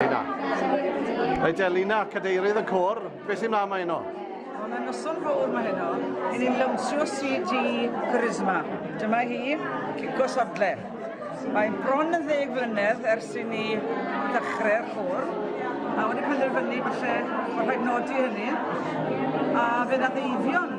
Elina. Reit Elina, cadeirydd y cwr, beth sy'n mlaen mae yno? Wel, mae'n noson fawr mae heno. Yn ni'n lawnsio CD Charisma. Dyma hi, Cico Sodle. Mae'n bron yn ddeg flynedd ers i ni ddechrau'r cwr. A wedi penderfynu falle bod rhaid nodi hynny. A fe ddath Eifion